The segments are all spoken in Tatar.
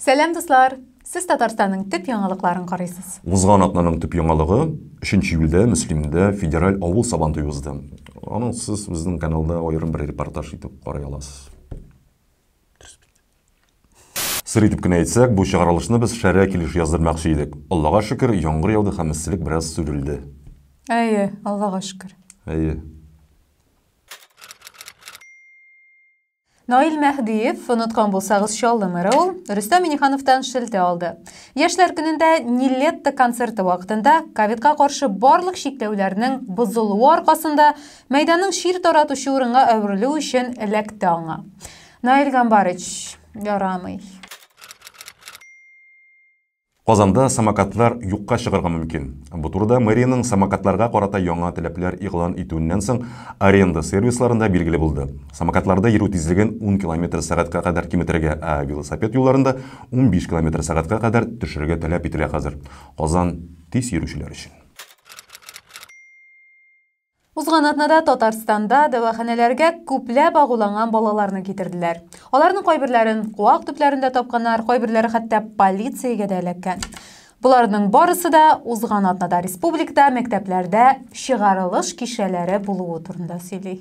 Сәлам дуслар! Сез Татарстанның төп яңалыкларын карыйсыз. Узган атнаның төп яңалыгы 3 июльдә Мөслимдә федераль авыл сабантуе узды. Аны сез безнең каналда аерым бер репортаж итеп карый аласыз. Сыр итеп кенә әйтсәк, бу чыгарылышны без шәрә килеш яздырмакчы идек. Аллага шөкер, яңгыр яуды һәм эсселек бераз сүрелде. Әйе, Аллага шөкер. Әйе. Наил Мәһдиев, оныткан булсагыз, Чаллы мэры ул, Рөстәм Минихановтан шелтә алды. Яшьләр көнендә Нилетто концерты вакытында ковидка каршы барлык чикләүләрнең бозылуы аркасында мәйданның чир таратучы урынга әверелү өчен эләкте аңа. Наил Гамбарыч, ярамый. Казанда самокатлар юкка чыгарга мөмкин. Бу турыда мэриянең самокатларга карата яңа таләпләр игълан итүеннән соң аренда сервисларында билгеле булды. Самокатларда йөрү тизлеген ун километр сәгатькә кадәр киметергә, ә велосипед юлларында унбиш километр сәгатькә кадәр төшерергә таләп ителә хәзер Казан тиз йөрүчеләр өчен. Узган атнада Татарстанда дәваханәләргә күпләп агуланган балаларны китерделәр. Аларның кайберләрен куак төпләрендә тапканнар, кайберләре хәтта полициягә дә эләккән. Боларның барысы да узган атнада республикада мәктәпләрдә чыгарылыш кичәләре булуы турында сөйли.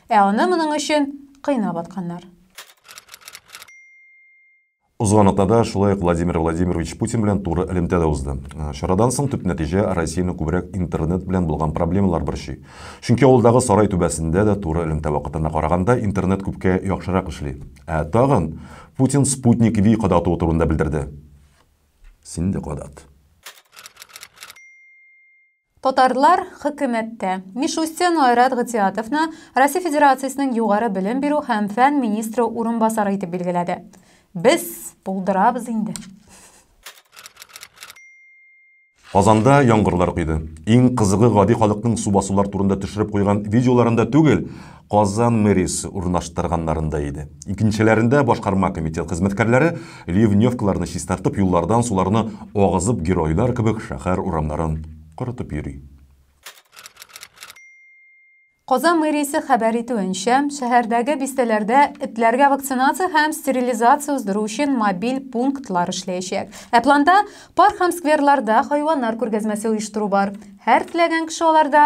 Ә аны моның өчен кыйнап атканнар. Узган атнада шулай ук Владимир Владимирович Путин белән туры элемтә дә узды. Чарадан соң төп нәтиҗә Россияне күбрәк интернет белән булган проблемалар борчый. Чөнки авылдагы сарай түбәсендә дә туры элемтә вакытына караганда интернет күпкә яхшырак эшли. Ә тагын Путин Спутник V кадатуы турында белдерде. Син дә кадат. Татарлар хөкүмәттә. Мишустин Айрат Гытиатовны Россия Федерациясенең югары белем бирү һәм фән министры урынбасары итеп билгеләде. Без булдырабыз инде. Казанда яңгырлар койды. Иң кызыгы гади халыкның су басулар турында төшереп куйган видеоларында түгел, Казан мэриясе урнаштырганнарында иде. Икенчеләрендә башкарма комитет хезмәткәрләре ливневкаларны чистартып, юллардан суларны агызып, геройлар кебек шәһәр урамнарын корытып йөри. Казан мэриясе хәбәр итүенчә, шәһәрдәге бистәләрдә этләргә вакцинация һәм стерилизация уздыру өчен мобиль пунктлар эшләячәк. Ә планда парк һәм скверларда хайваннар күргәзмәсе оештыру бар. Һәр теләгән кеше аларда